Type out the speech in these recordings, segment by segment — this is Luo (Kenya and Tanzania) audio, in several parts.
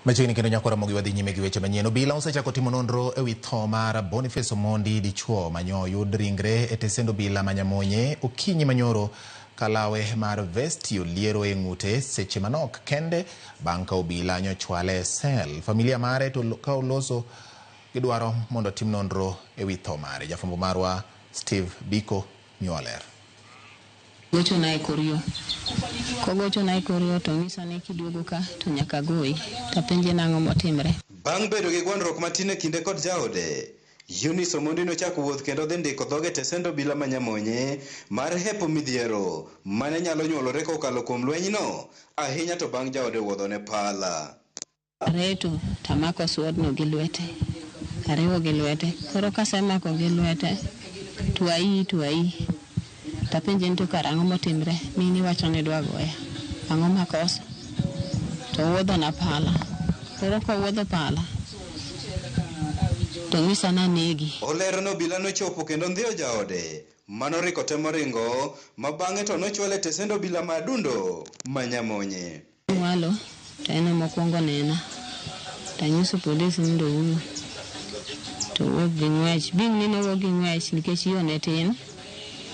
Machiegni kendo nyako Ramogi wadhi nyime gi weche manyien. Obila osechako timo nonro e wi tho mar Boniface Omondi dichuo manyo oyud ringre e tesend obila ma Nyamonye okinyi manyoro ka lawe mar vesti oliero e ng'ute seche manok kende bang' ka obila nyochwale e sel. Familia mare to ka oloso gidwaro mondo tim nonro e wi tho mare. Jafwambo marwa Steve Biko miwa ler. Gochona e kor yo. Kogochona e kor yo to onyisa ni kiduogo ka to nyaka agoyi, to apenje ni ang'o motimre. Bang' bedo gi gwandruok matin e kinde kod jaode, Eunice Omondi nochako wuoth kendo dhi ndiko dhoge e tesend obila ma Nyamonye mar hepo midhiero mane nyalo nyuolore kokalo kuom lwenyno, ahinya to bang' jaode wuodhone pala. Areto to amako swordno gi lwete, ariwo gi lwete. Koro kasemako gi lwete to aii to aii. To apenje ni to kara ang'o motimre? Mine iwacho ni idwa goya, ang'o makoso? To owuodhona pala. Koro kowuodho pala to onyisa ni anegi. Olero ni obila nochopo kendo ondhiyo jaode ma noriko temo ringo ma bang'e to nochwale e tesend obila ma Adundo ma Nyamonye. Owalo to en ema okuongo onena to anyiso police mondo owuo to owuok gi ng'wech. Bing'ni nowuok gi ng'wech nikech yo ne tin,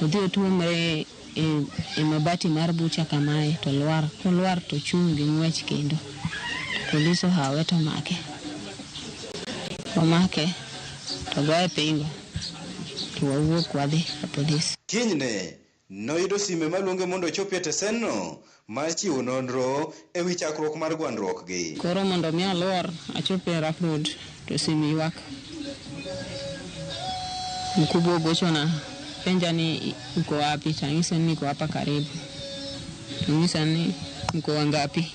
odhi otuomre e, e mabati mar bucha kamae to lwar. Kolwar to ochung' gi ng'wech kendo. Polis ohawe to omake. Omake to goye pingo to wawuok wadhi ka polis. Kinyne, Noyudo sime maluonge mondo ochopi e tesenno mar chiwo nonro e wi chakruok mar gwandruokgi. Koro mondo mi alwor achop e rough road to sim ywak. Mkubwa ogochona penja ni uko wapi to anyise ni niko hapa karibu. Anyisa ni mko wangapi?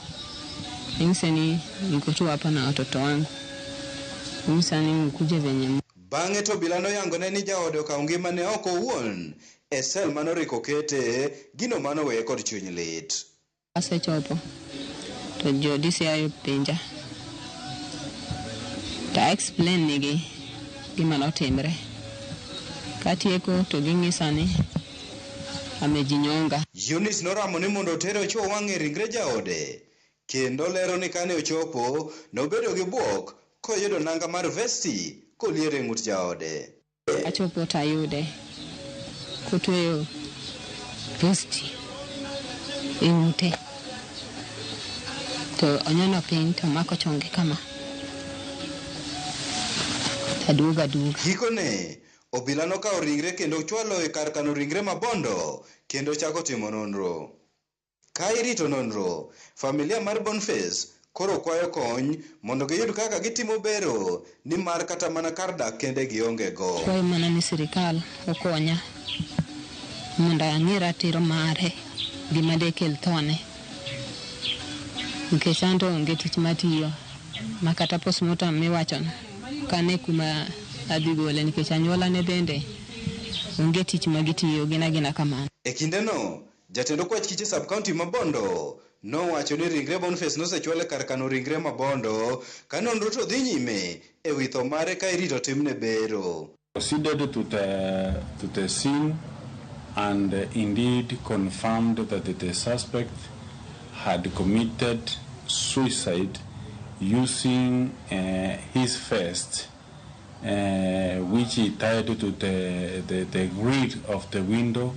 Anyise ni niko tu hapa na watoto wangu. Anyisa ni mkuje venye Bang'e to obila noyangone ni jaode okawo ngimane oko owuon E cell mane orik okete, gino mane oweye kod chuny lit. Asechopo to jo DCI openja to a explain nigi gima notimre. Katieko to ging'isa ni amejinyonga. Eunice noramo ni mondo otere ochuo wang'e ringre jaode kendo lero ni kane ochopo nobedo gi buok koyudo nanga mar vesti koliero e ng'ut jaode. Achopo to ayude kotweyo posti e ng'ute to onyono piny to omako chonge kama aduogo aduoga. Gikone, obila nokawo ringre kendo ochwalo e kar kano ringre ma Bondo kendo ochako timo nonro. Ka irito nonro, familia mar Bonface koro kwayo kony mondo giyud kaka gitimo bero nimar kata mana kar dak kende gionge go. Akwayo mana ni sirikal okonya mondo ang'e ratiro mare, gima dekel thone nikech anto onge tich matiyo ma kata postmortem miwachono ok ane kuma adhi gole nikech anyuolane bende onge tich ma gitiyo, gin agina kamano. E kindeno, Jatend okwach kiche sub-county ma Bondo nowacho ni ringre Boniface nosechwal e kar kano ringre ma Bondo ka nonro to dhi nyime e wi tho mare ka irito timne bero. Proceeded to the to the scene and indeed confirmed that the suspect had committed suicide using uh, his vest. uh, which he tied to the, the, the grill of the window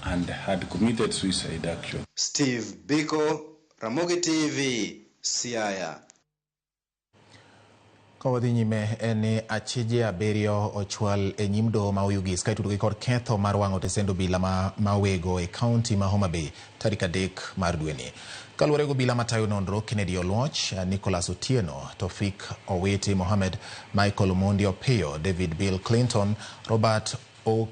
and had committed suicide actually. Steve Biko, Ramogi TV, Siaya. Ka wadhi nyime en ni achije abiriyo ochwal e nyim doho ma Oyugis ka itudo gi kod ketho mar wang'o tesend obila ma, ma wego e kaunti ma Homa Bay. tarik adek mar dweni. Kaluwore gi obila matayo nonro, Kennedy Oluoch, Nicholas Otieno, Tofik Owiti Mohammed, Michael Omondi Opiyo, David Bill Clinton, Robert Oka